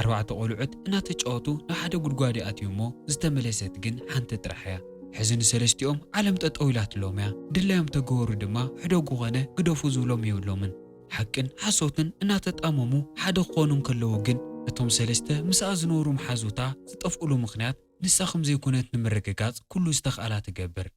ኣርባዕተ ቆልዑት እናተጫወቱ ናብ ሓደ ጉድጓድ ይኣትዩ'ሞ ዝተመለሰት ግን ሓንቲ ጥራሕ'ያ። ሕዚ ንሰለስቲኦም ዓለም ጠጠው ኢላትሎም'ያ። ድላዮም ተገበሩ ድማ ሕደጉ ኮነ ግደፉ ዝብሎም የብሎምን። ሓቅን ሓሶትን እናተጣመሙ ሓደ ክኾኑ እንከለዉ ግን እቶም ሰለስተ ምስኣ ዝነበሩ መሓዙታ ዝጠፍእሉ ምኽንያት ንሳ ከምዘይኮነት ንምርግጋጽ ኩሉ ዝተኽኣላ ትገብር።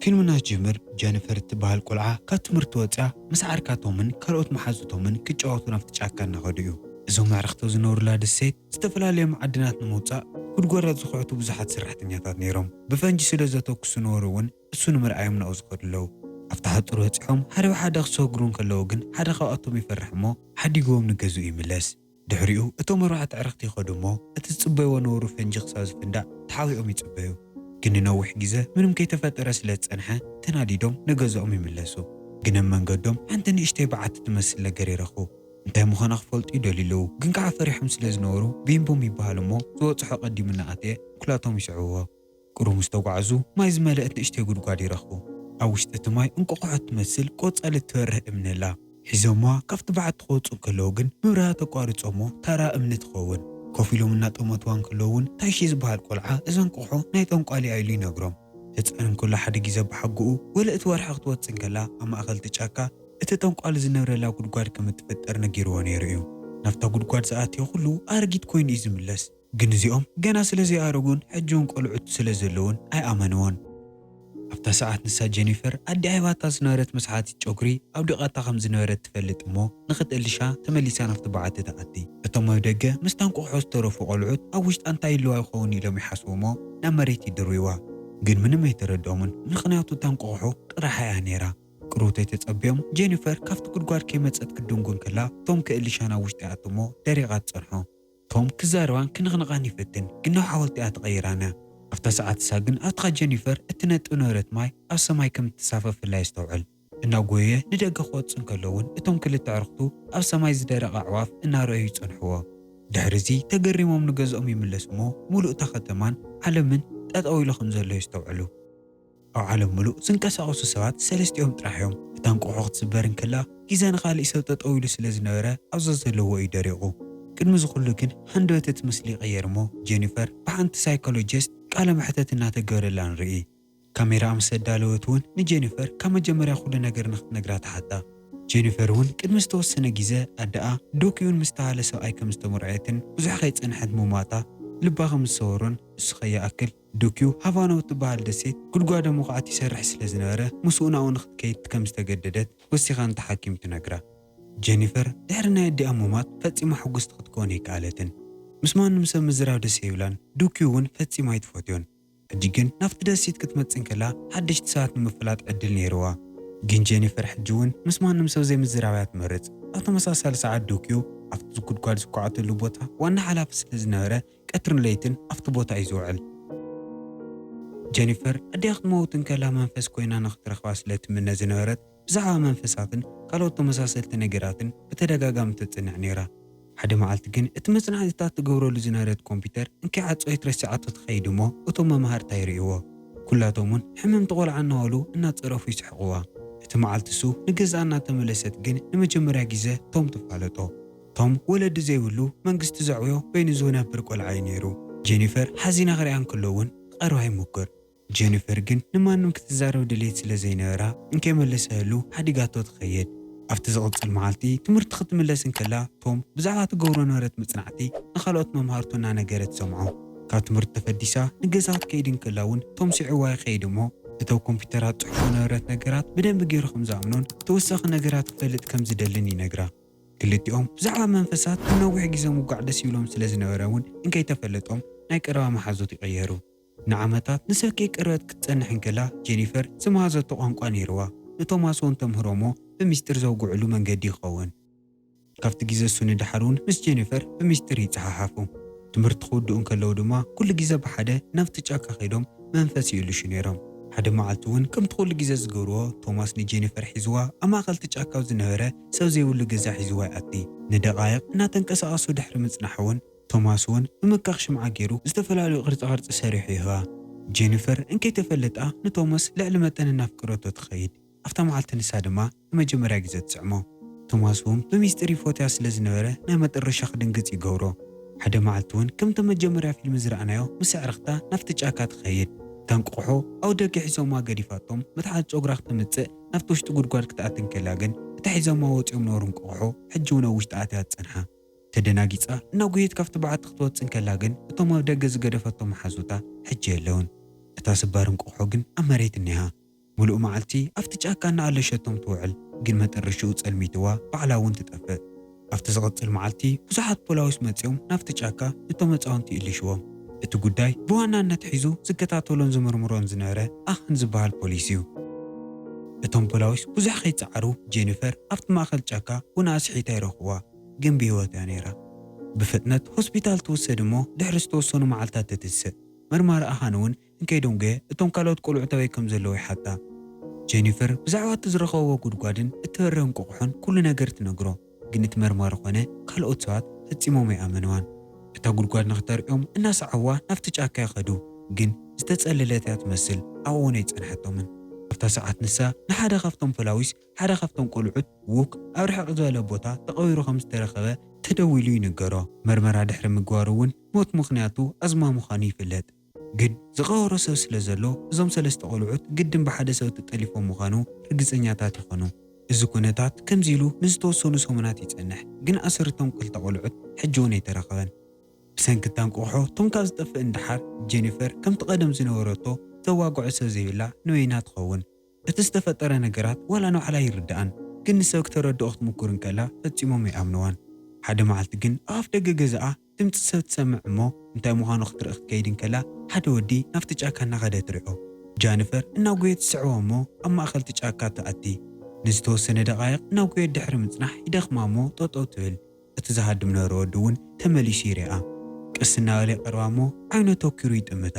ፊልምና ዝጅምር ጀንፈር እትበሃል ቆልዓ ካብ ትምህርቲ ወፂኣ ምስ ዓርካቶምን ካልኦት መሓዙቶምን ክጫወቱ ናብቲ ጫካ እናኸዱ እዩ። እዞም ኣዕርኽቶ ዝነብሩላ ደሴት ዝተፈላለየ መዓድናት ንምውፃእ ጉድጓዳት ዝኹዕቱ ብዙሓት ሰራሕተኛታት ነይሮም። ብፈንጂ ስለዘተኩሱ ነበሩ እውን ንሱ ንምርኣዮም ናብኡ ዝኸዱ ኣለዉ። ኣብቲ ሓጹር በጺሖም ሓደ ብሓደ ክሰግሩ እንከለዉ ግን ሓደ ካብኣቶም ይፈርሕ እሞ ሓዲግዎም ንገዝኡ ይምለስ። ድሕሪኡ እቶም ኣርባዕተ ኣዕርኽቲ ይኸዱ እሞ እቲ ዝጽበይዎ ነበሩ ፈንጂ ክሳብ ዝፍንዳእ ተሓቢኦም ይጽበዩ። ግን ንነዊሕ ግዘ ምንም ከይተፈጠረ ስለ ዝጸንሐ ተናዲዶም ንገዝኦም ይምለሱ። ግን ኣብ መንገዶም ሓንቲ ንእሽተይ በዓቲ ትመስል ነገር ይረኽቡ። እንታይ ምዃና ክፈልጡ ይደልዩ ኣለዉ ግን ከኣ ፈሪሖም ስለ ዝነበሩ ቢምቡም ይበሃሉ እሞ ዝበጽሖ ቀዲሙ እናኣተየ እኩላቶም ይስዕብዎ። ቁሩብ ምስ ተጓዕዙ ማይ ዝመለእት ንእሽተይ ጉድጓድ ይረኽቡ። ኣብ ውሽጢ እቲ ማይ እንቆቆሖ እትመስል ቆጻሊ እትበርህ እምኒ ኣላ። ሒዞምዋ ካብቲ በዓቲ ክወጽኡ እንከለዉ ግን ምብራሃ ተቋርጾሞ ተራ እምኒ ትኸውን። ኮፍ ኢሎም እናጠመቱዋ እንከለዉ እውን ታሺ ዝበሃል ቆልዓ እዛ እንቆቆሖ ናይ ጠንቋሊ እያ ኢሉ ይነግሮም። ህጻን እንከሎ ሓደ ግዜ ኣባሓጎኡ ወለ እቲ ወርሒ ክትወጽእ እንከላ ኣብ ማእከል እቲ ጫካ እቲ ጠንቋሊ ዝነብረላ ጉድጓድ ከም እትፍጠር ነጊርዎ ነይሩ እዩ። ናብታ ጉድጓድ ዝኣተየ ኩሉ ኣረጊት ኮይኑ እዩ ዝምለስ። ግን እዚኦም ገና ስለ ዘይኣረጉን ሕጂውን ቆልዑት ስለ ዘለዉን ኣይኣመንዎን። ኣብታ ሰዓት ንሳ ጀኒፈር ኣዲኣ ሂባታ ዝነበረት መስሓቲት ጨጉሪ ኣውዲቓታ ከም ዝነበረት ትፈልጥ እሞ ንኽትእልሻ ተመሊሳ ናብቲ በዓቲ ትኣቲ። እቶም ኣብ ደገ ምስታ እንቋቑሖ ዝተረፉ ቆልዑት ኣብ ውሽጣ እንታይ ይህልዋ ይኸውን ኢሎም ይሓስቡ እሞ ናብ መሬት ይድርብይዋ። ግን ምንም ኣይተረድኦምን ምኽንያቱ እታ እንቋቑሖ ጥራሓ እያ ነይራ። ቅርውተይ ተጸብዮም ጀኒፈር ካብቲ ጉድጓድ ከይመጸት ክትድንጉን ከላ ቶም ክእልሻ ናብ ውሽጢ ይኣቱ እሞ ደሪቓ ትጸንሖ። ቶም ክዛረባን ክንቕንቓን ይፈትን ግናው ሓወልቲኣ ተቐይራ ኣላ። ኣብታ ሰዓት እሳ ግን ኣብትኻ ጀኒፈር እትነጥብ ነበረት ማይ ኣብ ሰማይ ከም እትሳፈፍ ፍላይ ኣስተውዕል። እናጎየየ ንደገ ክወጽእ እንከሎ እውን እቶም ክልተ ኣዕሩኽቱ ኣብ ሰማይ ዝደረቐ ኣዕዋፍ እናረኣዩ ይጸንሕዎ። ድሕሪ እዚ ተገሪሞም ንገዝኦም ይምለሱ እሞ ምሉእ እታ ከተማን ዓለምን ጠጠው ኢሉ ከም ዘሎ የስተውዕሉ። ኣብ ዓለም ምሉእ ዝንቀሳቐሱ ሰባት ሰለስቲኦም ጥራሕ እዮም። እታ እንቋቝሖ ክትስበር እንከላ ግዜ ንኻልእ ሰብ ጠጠው ኢሉ ስለ ዝነበረ ኣብ ዘዘለዎ እዩ ደሪቑ። ቅድሚ እዚ ኹሉ ግን ሃንደበት እቲ ምስሊ ይቕየር እሞ ጀኒፈር ብሓንቲ ሳይኮሎጂስት ቃለ መሕተት እናተገበረላ ንርኢ። ካሜራኣ ምስ ኣዳለወት እውን ንጀኒፈር ካብ መጀመርያ ኩሉ ነገር ንኽትነግራ ትሓታ። ጀኒፈር እውን ቅድሚ ዝተወሰነ ግዘ ኣደኣ ዶክዩን ምስ ተባህለ ሰብኣይ ከም ዝተመርዐየትን ብዙሕ ከይፀንሐት ምሟታ ልባ ከም ዝሰበሮን እሱ ከይኣክል ዱክዩ ሃቫና እትበሃል ደሴት ጉድጓደ መኹዓቲ ይሰርሕ ስለ ዝነበረ፣ ምስኡ ናብኡ ንኽትከይድ ከም ዝተገደደት ወሲኻ ነታ ሓኪም ትነግራ። ጀኒፈር ድሕሪ ናይ ኣዲኣ ምሟት ፈጺማ ሕጉስቲ ክትከውን ኣይከኣለትን። ምስ ማንም ሰብ ምዝራብ ደስ ኣይብላን፣ ዱክዩ እውን ፈጺማ ኣይትፈትዮን። ሕጂ ግን ናብቲ ደሴት ክትመጽእ እንከላ ሓደሽቲ ሰባት ንምፍላጥ ዕድል ነይርዋ። ግን ጀኒፈር ሕጂ እውን ምስ ማንም ሰብ ዘይምዝራብ እያ ትመርጽ። ኣብ ተመሳሳሊ ሰዓት ዱክዩ ኣብቲ ጉድጓድ ዝኳዓተሉ ቦታ ዋና ሓላፊ ስለ ዝነበረ፣ ቀትርን ለይትን ኣብቲ ቦታ እዩ ዝውዕል። ጀኒፈር ኣዲኣ ክትመውት እንከላ መንፈስ ኰይና ንኽትረኽባ ስለ እትምነ ዝነበረት፣ ብዛዕባ መንፈሳትን ካልኦት ተመሳሰልቲ ነገራትን ብተደጋጋሚ ትጽንዕ ነይራ። ሓደ መዓልቲ ግን እቲ መጽናዕትታት ትገብረሉ ዝነበረት ኮምፕዩተር እንከይዓጸወት ረሲዓቶ ትኸይድ እሞ እቶም መማህርታ ይርእይዎ። ኵላቶም እውን ሕምምቲ ቈልዓ እናበሉ እናጸረፉ ይስሕቕዋ። እቲ መዓልቲ እሱ ንገዝኣ እናተመለሰት ግን ንመጀመርያ ግዜ ቶም ትፋለጦ። ቶም ወለዲ ዘይብሉ መንግስቲ ዘዕብዮ በይኑ ዝውነብር ቆልዓ እዩ ነይሩ። ጀኒፈር ሓዚና ክሪኣ እንክሎ እውን ክቐርባ ይሙክር። ጀኒፈር ግን ንማንም ክትዛረብ ድሌት ስለ ዘይነበራ እንከይመለሰህሉ ሓዲጋቶ ትኸይድ። ኣብቲ ዝቕጽል መዓልቲ ትምህርቲ ክትምለስ እንክላ ቶም ብዛዕባ ትገብሮ ነበረት መጽናዕቲ ንኻልኦት መምሃርቱ እናነገረ ትሰምዖ። ካብ ትምህርቲ ተፈዲሳ ንገዛ ክትከይድ እንክላ እውን ቶም ሲዒዋ ይኸይድ እሞ፣ እተው ኮምፒተራት ጽሑፎ ነበረት ነገራት ብደንቢ ገይሩ ከም ዝኣምኖን ተወሳኺ ነገራት ክፈልጥ ከም ዝደልን ይነግራ። ክልቲኦም ብዛዕባ መንፈሳት ንነዊሕ ግዜ ምውጋዕ ደስ ይብሎም ስለ ዝነበረ እውን እንከይተፈለጦም ናይ ቀረባ መሓዙት ይቕየሩ። ንዓመታት ንሰኪ ቅርበት ክትጸንሕ እንከላ ጄኒፈር ዝመሃዘቶ ቋንቋ ነይርዋ። ንቶማስ እውን ተምህሮ እሞ ብሚስጢር ዘውግዕሉ መንገዲ ይኸውን። ካብቲ ግዜ እሱ ንደሓር እውን ምስ ጄኒፈር ብሚስጢር ይጸሓሓፉ። ትምህርቲ ክውድኡ እንከለዉ ድማ ኩሉ ግዜ ብሓደ ናብቲ ጫካ ከይዶም መንፈስ ይእልሹ ነይሮም። ሓደ መዓልቲ እውን ከምቲ ኩሉ ግዜ ዝገብርዎ ቶማስ ንጄኒፈር ሒዝዋ ኣብ ማእከል እቲ ጫካ ኣብ ዝነበረ ሰብ ዘይብሉ ገዛ ሒዝዋ ይኣቲ። ንደቓይቕ እናተንቀሳቐሱ ድሕሪ ምጽናሕ'ውን፣ ቶማስ'ውን ብምካኽ ሽምዓ ገይሩ ዝተፈላለዩ ቅርጻ-ቅርጺ ሰሪሑ ይህባ። ጄኒፈር እንከይተፈለጣ ንቶማስ ልዕሊ መጠን እናፍቀረቶ ትኸይድ። ኣብታ መዓልቲ ንሳ ድማ ንመጀመርያ ግዘ ትስዕሞ። ቶማስ'ውን ብሚስጢር ይፎትያ ስለ ዝነበረ ናይ መጠረሻ ክድንግጽ ይገብሮ። ሓደ መዓልቲ'ውን ከምታ መጀመርያ ፊልሚ ዝረኣናዮ ምስ ኣዕርኽታ ናብቲ ጫካ ትኸይድ። እታ እንቋቑሖ ኣብ ደገ ሒዞማ ገዲፋቶም መትሓዚ ጸጉራ ክተምጽእ፣ ናብቲ ውሽጢ ጉድጓድ ክትኣቲ እንከላ ግን እታ ሒዞማ ወጺኦም ነበሩ እንቋቑሖ ሕጂ እውን ኣብ ውሽጢ ኣትያ ዝጸንሓ ተደናጊጻ እናጎየት ካብቲ በዓቲ ክትወጽእ እንከላ ግን እቶም ኣብ ደገ ዝገደፈቶም መሓዙታ ሕጂ የለውን። እታ ስባር እንቋቑሖ ግን ኣብ መሬት እኒሃ። ምሉእ መዓልቲ ኣብቲ ጫካ እናኣለሸቶም ትውዕል ግን መጠረሽኡ ጸልሚትዋ ባዕላ እውን ትጠፍእ። ኣብቲ ዝቕጽል መዓልቲ ብዙሓት ፖላዊስ መጺኦም ናብቲ ጫካ እቶም ህጻውንቲ ይእልሽዎም። እቲ ጉዳይ ብዋናነት ሒዙ ዝከታተሎን ዝምርምሮን ዝነበረ ኣኸን ዝበሃል ፖሊስ እዩ። እቶም ፖላዊስ ብዙሕ ከይጸዓሩ ጄኒፈር ኣብቲ ማእከል ጫካ ቡና ኣስሒታ ይረኽብዋ፣ ግን ብህይወት እያ ነይራ። ብፍጥነት ሆስፒታል ትውሰድ እሞ ድሕሪ ዝተወሰኑ መዓልታት ትትስእ። መርማሪ ኣኻን እውን ንኬዶንገ እቶም ካልኦት ቈልዑት ኣበይ ከም ዘለዉ ይሓታ። ጀኒፈር ብዛዕባ እቲ ዝረኸብዎ ጕድጓድን እተበርህ እንቋቝሖን ኵሉ ነገር ትነግሮ፣ ግን እቲ መርማሪ ዀነ ካልኦት ሰባት ፈጺሞም ኣይኣመንዋን። እታ ጕድጓድ ንኽተርእዮም እናሰዓብዋ ናብቲ ጫካ ይኸዱ፣ ግን ዝተጸለለት እያ ትመስል፣ ኣብኦም ኣይጸንሐቶምን። ኣብታ ሰዓት ንሳ ንሓደ ኻብቶም ፈላዊስ ሓደ ኻብቶም ቈልዑት ዉክ ኣብ ርሕቕ ዝበለ ቦታ ተቐቢሩ ኸም ዝተረኸበ ተደዊሉ ይንገሮ። መርመራ ድሕሪ ምግባሩ እውን ሞት ምኽንያቱ ኣዝማ ምዃኑ ይፍለጥ። ግን ዝቐበሮ ሰብ ስለ ዘሎ እዞም ሰለስተ ቆልዑት ግድን ብሓደ ሰብ ተጠሊፎም ምዃኑ ርግጸኛታት ይኾኑ። እዚ ኩነታት ከምዚ ኢሉ ንዝተወሰኑ ሰሙናት ይጸንሕ፣ ግን ኣሰር እቶም ክልተ ቆልዑት ሕጂ'ውን ኣይተረኽበን። ብሰንኪ እታ እንቋቑሖ ቶም ካብ ዝጠፍእን ደሓር፣ ጀኒፈር ከምቲ ቀደም ዝነበረቶ ተዋግዖ ሰብ ዘይብላ ንበይና ትኸውን። እቲ ዝተፈጠረ ነገራት ዋላ ንባዕላ ኣይርድኣን፣ ግን ንሰብ ክተረድኦ ክትሙኩር እንከላ ፈጺሞም ኣይኣምንዋን። ሓደ መዓልቲ ግን ኣብ ኣፍደገ ገዛኣ። ድምጺ ሰብ ትሰምዕ እሞ እንታይ ምዃኑ ክትርኢ ክትከይድ እንከላ ሓደ ወዲ ናብቲ ጫካ እናኸደ ትሪዖ። ጃንፈር እናጎየት ትስዕቦ እሞ ኣብ ማእከል እቲ ጫካ ትኣቲ። ንዝተወሰነ ደቓይቕ እናጎየት ድሕሪ ምጽናሕ ይደኽማ እሞ ጠጠው ትብል። እቲ ዝሃድም ዝነበረ ወዲ እውን ተመሊሱ ይሪኣ። ቀስ እናበለ ይቐርባ እሞ ዓይኑ ኣተኲሩ ይጥምታ።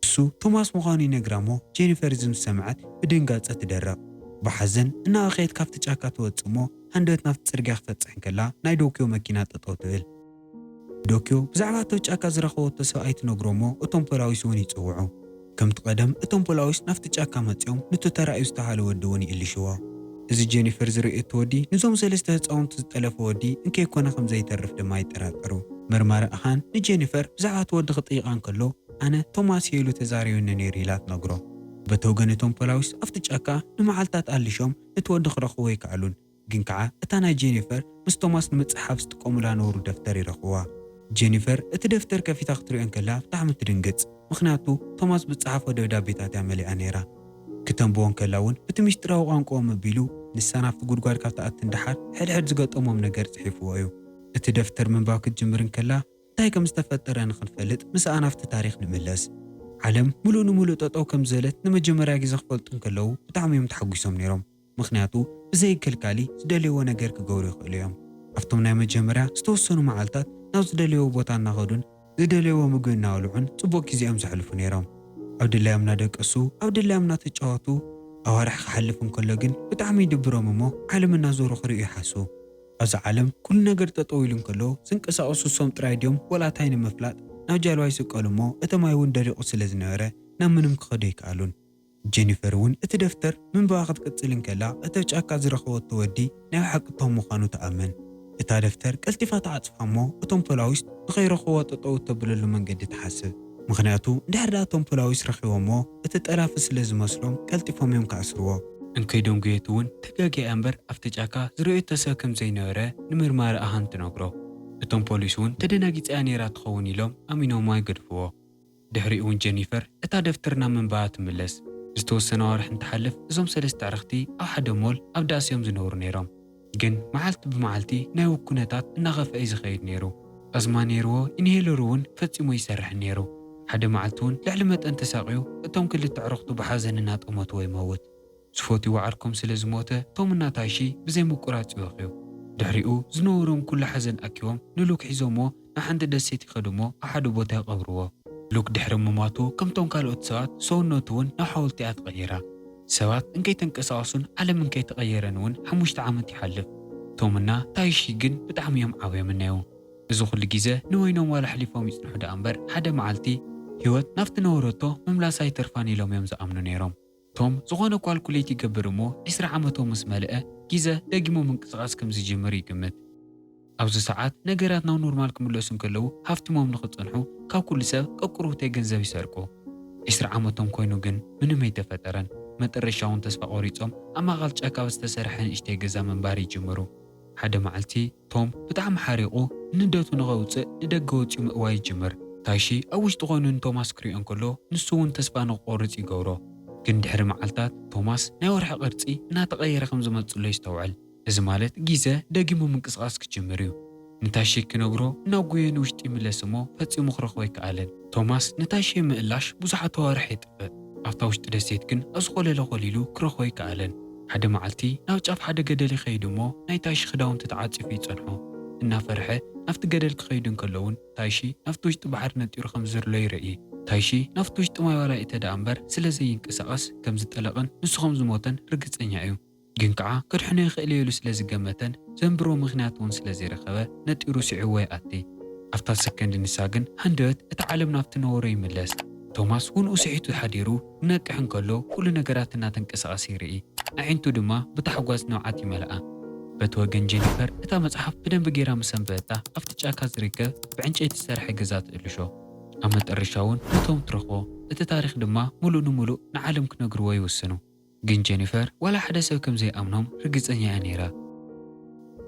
ንሱ ቶማስ ምዃኑ ይነግራ'ሞ ጄኒፈር እዚ ምስ ሰምዐት ብድንጋጸ ትደርቕ። ብሓዘን እናበኸየት ካብቲ ጫካ ትወጽእ'ሞ ሃንደበት ናብቲ ጽርግያ ክትበጽሕ እንከላ ናይ ዶክዮ መኪና ጠጠው ትብል። ንዶክዮ ብዛዕባ ኣብቲ ኣብ ጫካ ዝረኸበቶ ሰብኣይ ትነግሮ'ሞ እቶም ፖላዊስ'ውን ይጽውዑ። ከምቲ ቀደም እቶም ፖላዊስ ናብቲ ጫካ መጺኦም ኑቲ ተራእዩ ዝተብሃለ ወዲ'ውን ይእልሽዎ። እዚ ጄኒፈር ዝርእየቶ ወዲ ንዞም ሰለስተ ህጻውንቲ ዝጠለፎ ወዲ እንከይኮነ ከምዘይተርፍ ድማ ይጠራጠሩ። መርማሪ ኣሃን ንጄኒፈር ብዛዕባ እቲ ወዲ ክጥይቓ እንከሎ፣ ኣነ ቶማስ እየ ኢሉ ተዛሪቡኒ ነይሩ ኢላ ትነግሮ። በቲ ወገን እቶም ፖላዊስ ኣብቲ ጫካ ንመዓልታት ኣሊሾም ነቲ ወዲ ክረኽብዎ ኣይከኣሉን። ግን ከኣ እታ ናይ ጄኒፈር ምስ ቶማስ ንምጽሕሓፍ ዝጥቀሙላ ነውሩ ደፍተር ይረኽብዋ። ጄኒፈር እቲ ደፍተር ከፊታ ክትሪኦ እንከላ ብጣዕሚ ትድንግጽ። ምኽንያቱ ቶማስ ብዝጸሓፎ ደብዳቤታት እያ መሊኣ ነይራ። ክተንብቦ እንከላ እውን ብቲ ምስጢራዊ ቋንቁኦም ኣቢሉ ንሳ ናብቲ ጉድጓድ ካብ ትኣቲ ንደሓር ሕድሕድ ዝገጠሞም ነገር ጽሒፍዎ እዩ። እቲ ደፍተር ምንባብ ክትጅምር እንከላ እንታይ ከም ዝተፈጠረ ንኽንፈልጥ ምስኣ ናብቲ ታሪኽ ንምለስ። ዓለም ምሉእ ንምሉእ ጠጠው ከም ዝበለት ንመጀመርያ ግዜ ክፈልጡ እንከለዉ ብጣዕሚ እዮም ተሓጒሶም ነይሮም ምኽንያቱ ብዘይ ከልካሊ ዝደለይዎ ነገር ክገብሩ ይኽእሉ እዮም። ኣብቶም ናይ መጀመርያ ዝተወሰኑ መዓልታት ናብ ዝደለይዎ ቦታ እናኸዱን ዝደለይዎ ምግቢ እናበልዑን ጽቡቕ ግዜ እዮም ዘሕልፉ ነይሮም። ኣብ ድላዮም እናደቀሱ ኣብ ድላዮም እናተጫወቱ ኣዋርሕ ክሓልፍ እንከሎ ግን ብጣዕሚ ይድብሮም እሞ ዓለም እናዞሩ ክርእዩ ይሓስቡ። ኣብዛ ዓለም ኩሉ ነገር ጠጠው ኢሉ እንከሎ ዝንቀሳቀሱ ንሶም ጥራይ ድዮም ወላ ታይ ንምፍላጥ ናብ ጃልባ ይስቀሉ እሞ እቲ ማይ እውን ደሪቁ ስለ ዝነበረ ናብ ምንም ክከዱ ኣይከኣሉን። ጀኒፈር እውን እቲ ደፍተር ምንባባ ክትቅጽል እንከላ እቲ ኣብ ጫካ ዝረከበቶ ወዲ ናይ ብሓቂ ቶም ምኳኑ ትኣምን። እታ ደፍተር ቀልጢፋ ትዓጽፋ እሞ እቶም ፖላዊስ ንከይረክብዋ ጠጠው እተብለሉ መንገዲ ትሓስብ ምክንያቱ እንድሕር ድኣ እቶም ፖላዊስ ረኪቦምዎ እቲ ጠላፊ ስለ ዝመስሎም ቀልጢፎም እዮም ክኣስርዎ። እንከይ ደንጉየት እውን ተጋግያ እያ እምበር ኣብቲ ጫካ ዝረኣየቶ ሰብ ከም ዘይነበረ ንመርማሪ ኣሃን ትነግሮ። እቶም ፖሊስ እውን ተደናጊጻ እያ ነይራ ትኸውን ኢሎም ኣሚኖምዋ ይገድፍዎ። ድሕሪኡ እውን ጀኒፈር እታ ደፍተር ናብ ምንባባ ትምለስ። ዝተወሰነ ኣዋርሕ እንትሓልፍ እዞም ሰለስተ ኣዕርኽቲ ኣብ ሓደ ሞል ኣብ ዳስ እዮም ዝነብሩ ነይሮም። ግን መዓልቲ ብመዓልቲ ናይ ዉግ ኩነታት እናኸፍኣ እዩ ዝኸይድ ነይሩ። ኣዝማ ነይርዎ፣ ኢንሄለሩ ዉን ፈጺሙ ኣይሰርሕን ነይሩ። ሓደ መዓልቲ ዉን ልዕሊ መጠን ተሳቕዩ እቶም ክልተ ኣዕሩኽቱ ብሓዘን እናጠመትዎ ይመዉት። ዝፈትይዎ ዓርኮም ስለ ዝሞተ ቶም እና ታሺ ብዘይ ምቁራጽ ይበኽዩ። ድሕሪኡ ዝነበሮም ኩሉ ሓዘን ኣኪቦም ንሉክ ሒዞምዎ ንሓንቲ ደሴት ይኸዱ'ሞ ኣሓዱ ቦታ ይቐብርዎ። ሉክ ድሕሪ ምሟቱ ከምቶም ካልኦት ሰባት ሰውነቱ'ውን ናብ ሓውልቲ'ያ ተቐይራ። ሰባት እንከይተንቀሳቐሱን ዓለም እንከይተቐየረን'ውን ሓሙሽተ ዓመት ይሓልፍ። ቶምና ታይሺ ግን ብጣዕሚ'ዮም ዓብዮምና'ዩ። እዚ ኩሉ ግዜ ንበይኖም ዋላ ኣሕሊፎም ይጽንሑ ደኣ'ምበር ሓደ መዓልቲ፣ ህይወት ናብቲ ነበረቶ ምምላሳ ኣይተርፋን ኢሎም'ዮም ዝኣምኑ ነይሮም። ቶም ዝኾነ ኳልኩሌት ይገብር እሞ ዕስራ ዓመቶም ምስ መልአ ጊዘ ደጊሙ ምንቅስቓስ ከም ዝጅምር ይግምት። ኣብዚ ሰዓት ነገራት ናብ ኖርማል ክምለሱ እንከለዉ ሃፍቲሞም ንክጸንሑ ካብ ኩሉ ሰብ ቀቁርብተይ ገንዘብ ይሰርቁ። ዕስራ ዓመቶም ኮይኑ ግን ምንም ኣይተፈጠረን። መጠረሻ እውን ተስፋ ቆሪጾም ኣብ ማእከል ጫካ ኣብ ዝተሰርሐ ንእሽተይ ገዛ ምንባር ይጅምሩ። ሓደ መዓልቲ። ቶም ብጣዕሚ ሓሪቑ ንደቱ ንኸውጽእ ንደገ ወጺኡ ምእዋይ ይጅምር። ታሺ ኣብ ውሽጢ ኮይኑ ንቶማስ ክሪኦ እንከሎ ንሱ እውን ተስፋ ንኽቆርጽ ይገብሮ። ግን ድሕሪ መዓልታት ቶማስ ናይ ወርሒ ቅርጺ እናተቐየረ ከም ዝመጽእሎ የስተውዕል። እዚ ማለት ጊዘ ደጊሙ ምንቅስቓስ ክጅምር እዩ። ንታሺ ክነግሮ እናጎየ ንውሽጢ ይምለስ እሞ ፈጺሙ ክረኽቦ ኣይከኣለን። ቶማስ ንታሺ ንምእላሽ ብዙሓት ኣዋርሕ የጥፍእ። ኣብታ ውሽጢ ደሴት ግን ኣብ ዝኾለለ ኮሊሉ ክረኽቦ ኣይከኣለን። ሓደ መዓልቲ ናብ ጫፍ ሓደ ገደል ይኸይድ እሞ ናይ ታይሺ ክዳውንቲ ተዓጺፉ ይጸንሖ። እናፈርሐ ናብቲ ገደል ክኸይዱ እንከለዉን ታይሺ ናብቲ ውሽጢ ባሕሪ ነጢሩ ከም ዝርሎ ይርኢ። ታይሺ ናብቲ ውሽጢ ማይ ዋላ ይእተ ደኣ እምበር ስለ ዘይንቀሳቐስ ከም ዝጠለቐን ንሱ ከም ዝሞተን ርግጸኛ እዩ። ግን ከኣ ከድሕኖ ይኽእል እየ ኢሉ ስለ ዝገመተን ዘንብሮ ምኽንያት እውን ስለ ዘይረኸበ ነጢሩ ስዒቡዎ ይኣቲ። ኣብታ ሰከንድ ንሳ ግን ሃንደበት እታ ዓለም ናብቲ ነበሮ ይምለስ። ቶማስ ውንኡ ስሒቱ ሓዲሩ። ክነቅሕ እንከሎ ኩሉ ነገራት እናተንቀሳቐሰ ይርኢ፣ ኣዒንቱ ድማ ብታሕጓስ ንብዓት ይመልኣ። በቲ ወገን ጀኒፈር እታ መጽሓፍ ብደንቢ ገይራ ምስ ኣንበበታ ኣብቲ ጫካ ዝርከብ ብዕንጨይቲ ዝተሰርሐ ገዛ ትእልሾ። ኣብ መጠረሻ'ውን ንቶም ትረኽቦ፣ እቲ ታሪኽ ድማ ምሉእ ንምሉእ ንዓለም ክነግርዎ ይውስኑ። ግን ጀኒፈር ዋላ ሓደ ሰብ ከም ዘይኣምኖም ርግጸኛ'ያ ነይራ።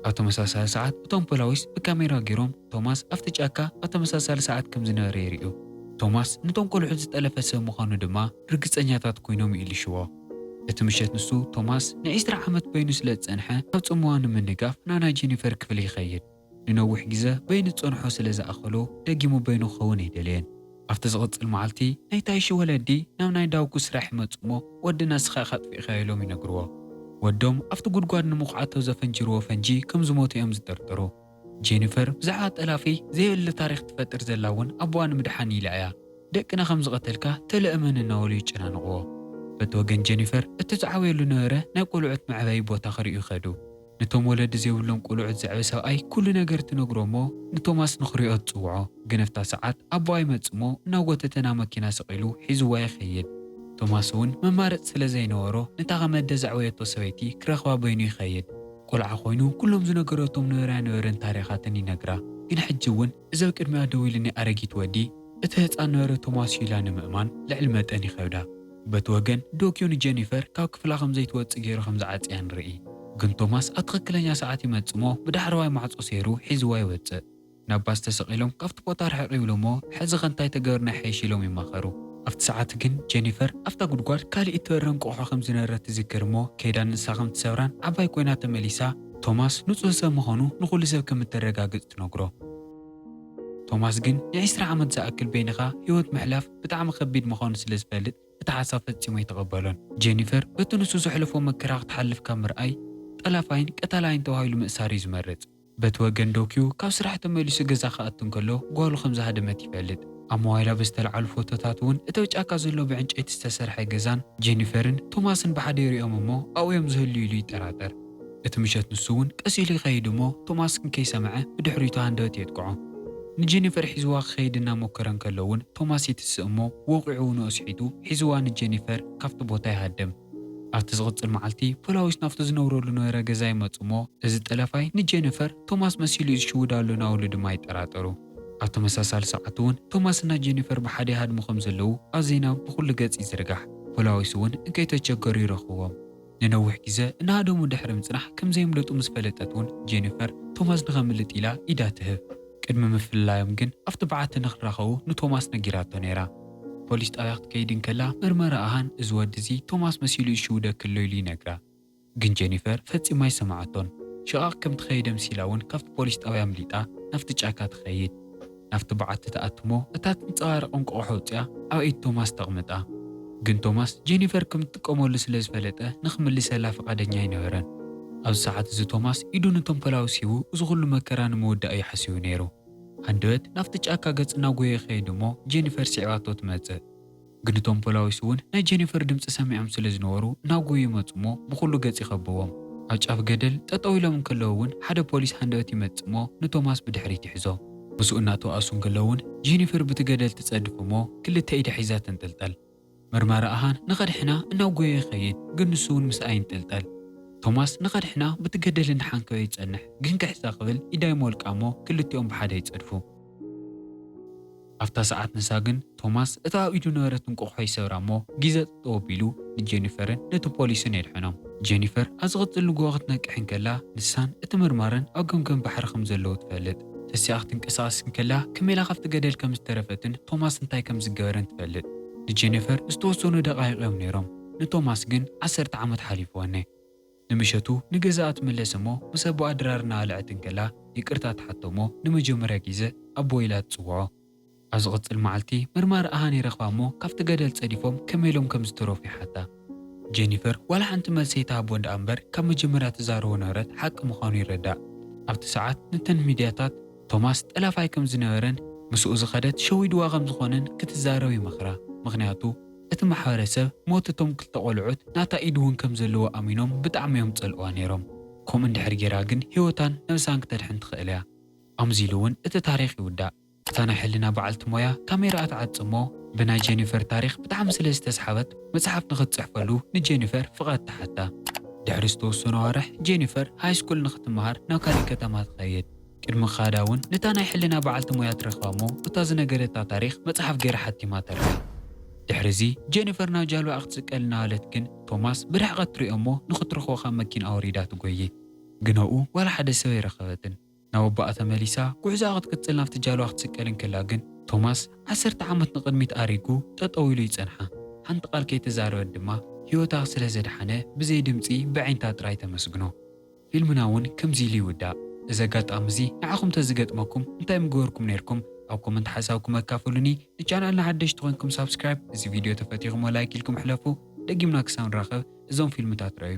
ኣብ ተመሳሳሊ ሰዓት እቶም ፖላዊስ ብካሜራ ገይሮም ቶማስ ኣብቲ ጫካ ኣብ ተመሳሳሊ ሰዓት ከም ዝነበረ የርእዩ። ቶማስ ንቶም ቆልዑት ዝጠለፈ ሰብ ምዃኑ ድማ ርግጸኛታት ኮይኖም ይእልሽዎ። እቲ ምሸት ንሱ፣ ቶማስ፣ ን ዕስራ ዓመት በይኑ ስለ ዝጸንሐ ኣብ ጽምዋ ንምንጋፍ ናብ ናይ ጀኒፈር ክፍሊ ይኸይድ። ንነዊሕ ግዘ በይኑ ዝጸንሖ ስለ ዝኣኸሎ ደጊሙ በይኑ ክኸውን ኣይደለየን። ኣብቲ ዝቕጽል መዓልቲ ናይታ ይሺ ወለዲ ናብ ናይ ዳውጉ ስራሕ ይመጹ እሞ ወዲ ነስኻ ኢኻ ኣጥፊእካዮ ኢሎም ይነግርዎ። ወዶም ኣብቲ ጉድጓድ ንምኹዓቶ ዘፈንጅርዎ ፈንጂ ከም ዝሞተ እዮም ዝጥርጥሩ። ጄኒፈር ብዛዕባ ጠላፊ ዘየለ ታሪኽ ትፈጥር ዘላ እውን ኣቦኣ ንምድሓን ኢላ እያ። ደቅና ከም ዝቐተልካ ተለ እመን እናበሉ ይጨናንቕዎ። በቲ ወገን ጄኒፈር እቲ ዝዓበየሉ ዝነበረ ናይ ቆልዑት መዕበዪ ቦታ ክርእዩ ከዱ። ነቶም ወለዲ ዘይብሎም ቁልዑት ዘዕቢ ሰብኣይ ኩሉ ነገር ትነግሮ እሞ ንቶማስ ንክሪኦ ትጽውዖ ግንፍታ ሰዓት ኣቦኣ ይመጽእ እሞ እናጎተተ ናብ መኪና ሰቂሉ ሒዝዋ ይከይድ ቶማስ ውን መማረጺ ስለ ዘይነበሮ ነታ ከመደ ዘዕበየቶ ሰበይቲ ክረክባ በይኑ ይከይድ ቆልዓ ኮይኑ ኩሎም ዝነገረቶም ነበራያ ነበርን ታሪካትን ይነግራ ግን ሕጂ ውን እዚ ኣብ ቅድሚኣ ደው ኢሉኒ ኣረጊት ወዲ፣ እቲ ህጻን ነበረ ቶማስ'ዩ ኢላ ንምእማን ልዕሊ መጠን ይኸብዳ። በቲ ወገን ዶክዮ ንጀኒፈር ካብ ክፍላ ከም ዘይትወጽእ ገይሩ ከም ዝዓጽያ ንርኢ። ግን ቶማስ ኣብ ትኽክለኛ ሰዓት ይመጽእ'ሞ ብዳሕረዋይ ማዕጾ ሰይሩ ሒዝዋ ይወጽእ። ናብ ባስ ተሰቒሎም ካብቲ ቦታ ርሕቕ ይብሉ'ሞ ሕዚኸ እንታይ ተገብርና ይሐይሽ ኢሎም ይማኸሩ። ኣብቲ ሰዓት ግን ጀኒፈር ኣብታ ጉድጓድ ካልእ እትበርር እንቋቑሖ ከም ዝነበረት ትዝክር'ሞ ከይዳ ንሳ ከም ትሰብራን ዓባይ ኮይና ተመሊሳ ቶማስ ንጹህ ሰብ ምዃኑ ንዅሉ ሰብ ከም እተረጋግጽ ትነግሮ። ቶማስ ግን ንዒስራ ዓመት ዝኣክል በይንኻ ህይወት ምሕላፍ ብጣዕሚ ኸቢድ ምዃኑ ስለ ዝፈልጥ እቲ ሓሳብ ፈጺሙ ኣይተቐበሎን። ጄኒፈር በቲ ንሱ ዘሕለፎ መከራ ክትሓልፍ ካብ ምርኣይ፣ ጠላፋይን ቀታላይን ተባሂሉ ምእሳር እዩ ዝመርጽ። በቲ ወገን ዶክዩ ካብ ስራሕ ተመሊሱ ገዛ ክኣቱ እንከሎ ጓሉ ከም ዝሃደመት ይፈልጥ። ኣብ ሞባይላ ብዝተልዓሉ ፎቶታት እውን እቲ ኣብ ጫካ ዘሎ ብዕንጨይቲ ዝተሰርሐ ገዛን ጄኒፈርን ቶማስን ብሓደ ይርእዮም እሞ ኣብኡ እዮም ዝህልዉ ኢሉ ይጠራጠር። እቲ ምሸት ንሱ እውን ቀስ ኢሉ ይኸይድ እሞ ቶማስ ግን ከይሰምዐ ብድሕሪቱ ሃንደበት የጥቅዖ። ንጀኒፈር ሒዝዋ ክኸይድ እናሞከረ እንከሎ እውን ቶማስ ይትስእ እሞ ወቒዑ እውን ኣስሒቱ ሒዝዋ ንጀኒፈር ካብቲ ቦታ ይሃድም። ኣብቲ ዝቕጽል መዓልቲ ፖላዊስ ናብቲ ዝነብረሉ ዝነበረ ገዛ ይመጹ እሞ እዚ ጠለፋይ ንጀኒፈር ቶማስ መሲሉ እዩ ዝሽውዳ ኣሎ ናበሉ ድማ ይጠራጠሩ። ኣብ ተመሳሳሊ ሰዓት እውን ቶማስ እና ጀኒፈር ብሓደ ይሃድሙ ከም ዘለዉ ኣብ ዜና ብኹሉ ገጽ ይዝርጋሕ። ፖላዊስ እውን እንከይተቸገሩ ይረኽብዎም። ንነዊሕ ግዘ እናሃደሙ ድሕሪ ምፅናሕ ከምዘየምለጡ ምስ ፈለጠት እውን ጄኒፈር ቶማስ ንኸምልጥ ኢላ ኢዳ ትህብ። ቅድሚ ምፍልላዮም ግን ኣብቲ በዓቲ ንኽራኸቡ ንቶማስ ነጊራቶ ነይራ። ፖሊስ ጣብያ ክትከይድ እንከላ መርመራ ኣሃን እዚ ወዲ እዚ ቶማስ መሲሉ ይሽውደኪ ኣሎ ኢሉ ይነግራ። ግን ጄኒፈር ፈፂማ ኣይሰምዓቶን። ሽቓቕ ከምቲ ከየደምሲላ እውን ካብቲ ፖሊስ ጣብያ ኣምሊጣ ናብቲ ጫካ ትኸይድ። ናብቲ በዓቲ ትኣቱ'ሞ እታ ትንጸባረቕ እንቆቑሖ ኣውጺኣ ኣብ ኢድ ቶማስ ተቕምጣ። ግን ቶማስ ጀኒፈር ከም እትጥቀመሉ ስለ ዝፈለጠ ንኽምልሰላ ፍቓደኛ ኣይነበረን። ኣብዚ ሰዓት እዚ ቶማስ ኢዱ ንቶምፐላውስ ሂቡ እዚ ኩሉ መከራ ንምውዳእ እዩ ሓሲቡ ነይሩ። ሃንደበት ናብቲ ጫካ ገጽ እናጎየየ ይኸይድ'ሞ ጀኒፈር ስዒባቶ ትመጽእ። ግን እቶም ፖላዊስ እውን ናይ ጀኒፈር ድምጺ ሰሚዖም ስለ ዝነበሩ እናጎዩ ይመጹ እሞ ብኹሉ ገጽ ይኸብዎም። ኣብ ጫፍ ገደል ጠጠው ኢሎም እንከለዉ እውን ሓደ ፖሊስ ሃንደበት ይመጽእ እሞ ንቶማስ ብድሕሪት ይሕዞ። ምስኡ እናተዋኣሱ እንከለዉ እውን ጀኒፈር ብቲ ገደል ትጸድፍ እሞ ክልተ ኢዳ ሒዛ ተንጠልጠል። መርማሪ ኣሃን ንኸድሕና እናጎየ ይኸይድ ግን ንሱ እውን ምስኣ ይንጠልጠል። ቶማስ ንኸድሕና ብቲ ገደል እናሓንከወ ይጸንሕ ግን ክሕዛ ክብል ኢዳ ይሞልቃ እሞ ክልቲኦም ብሓደ ይጸድፉ። ኣብታ ሰዓት ንሳ ግን ቶማስ እታ ኣብ ኢዱ ዝነበረት እንቋቝሖ ይሰብራ እሞ ግዜ ጠጠው ኣቢሉ ንጄኒፈርን ነቲ ፖሊስን የድሕኖም። ጄኒፈር ኣብ ዝቕጽል ንግሆ ክትነቅሕ እንከላ ንሳን እቲ መርማርን ኣብ ገምገም ባሕሪ ከም ዘለዉ ትፈልጥ። ተሲኣ ክትንቀሳቐስ እንከላ ከመይ ኢላ ካብቲ ገደል ከም ዝተረፈትን ቶማስ እንታይ ከም ዝገበረን ትፈልጥ። ንጄኒፈር ዝተወሰኑ ደቓይቕ እዮም ነይሮም ንቶማስ ግን ዓሰርተ ዓመት ሓሊፍወን። ንምሸቱ ንገዛኣ ትምለስ እሞ ምስ ኣቦኣ ድራር እናበልዐት እንከላ ይቅርታ ትሓቶ እሞ ንመጀመርያ ጊዘ ኣቦይ ኢላ ትጽውዖ። ኣብ ዝቅጽል መዓልቲ መርማሪ ኣሃን ይረክባ እሞ ካብቲ ገደል ጸዲፎም ከመይ ኢሎም ከም ዝተረፉ ይሓታ። ጀኒፈር ዋላ ሓንቲ መልሲ ኣይትሃቦን ድኣ እምበር ካብ መጀመርያ ትዛረቦ ነበረት ሓቂ ምዃኑ ይረዳእ። ኣብቲ ሰዓት ንተን ሚድያታት ቶማስ ጠላፋይ ከም ዝነበረን ምስኡ ዝከደት ሸዊድዋ ከም ዝኾነን ክትዛረብ ይመኽራ ምኽንያቱ፣ እቲ ማሕበረሰብ ሞት እቶም ክልተ ቆልዑት ናታ ኢድ ውን ከም ዘለዎ ኣሚኖም ብጣዕሚ እዮም ዝጸልእዋ ኔሮም ከምኡ እንድሕር ጌራ ግን ሂወታን ነብሳን ክተድሕን ትኽእል እያ ኣምዚ ኢሉ ውን እቲ ታሪኽ ይውዳእ። እታ ናይ ሕልና በዓልቲ ሞያ ካሜራኣ ትዓጽ እሞ ብናይ ጀኒፈር ታሪኽ ብጣዕሚ ስለ ዝተስሓበት መጽሓፍ ንኽትጽሕፈሉ ንጀኒፈር ፍቓድ ትሓታ። ድሕሪ ዝተወሰኑ ኣዋርሕ ጀኒፈር ሃይስኩል ንኽትመሃር ናብ ካሊእ ከተማ ትኸይድ። ቅድሚ ክኻዳ ውን ነታ ናይ ሕልና በዓልቲ ሞያ ትረኽባ እሞ እታ ዝነገደታ ታሪኽ መጽሓፍ ገይራ ሓቲማ ተርፍ። ድሕሪ'ዚ ጀኒፈር ናብ ጃልባኣ ክትስቀል እናበለት ግን ቶማስ ብርሕቐት ትሪኦ እሞ ንኽትረኽቦ ካብ መኪንኣ ወሪዳ ትጎዪ። ግን ኣብኡ ዋላ ሓደ ሰብ ኣይረኸበትን። ናብ ኣቦኣ ተመሊሳ ጉዕዞኣ ክትቅጽል ናብቲ ጃልባ ክትስቀል እንከላ ግን ቶማስ ዓሰርተ ዓመት ንቕድሚት ኣሪጉ ጠጠው ኢሉ ይጸንሓ። ሓንቲ ቃል ከይተዛረበት ድማ ህይወታ ስለ ዘድሓነ ብዘይ ድምጺ ብኣዒንታ ጥራይ ተመስግኖ። ፊልምና ውን ከምዚ ኢሉ ይውዳእ። እዚ ኣጋጣሚ እዚ ንዓኹም ተዝገጥመኩም እንታይ ምገበርኩም ኔርኩም ኣብ ኮመንት ሓሳብኩም ኣካፍሉኒ ንቻናልና ሓደሽቲ ኮንኩም ሳብስክራይብ እዚ ቪድዮ ተፈቲኹሞ ላይክ ኢልኩም ሕለፉ ደጊምና ክሳብ ንራኸብ እዞም ፊልምታት ርኣዩ።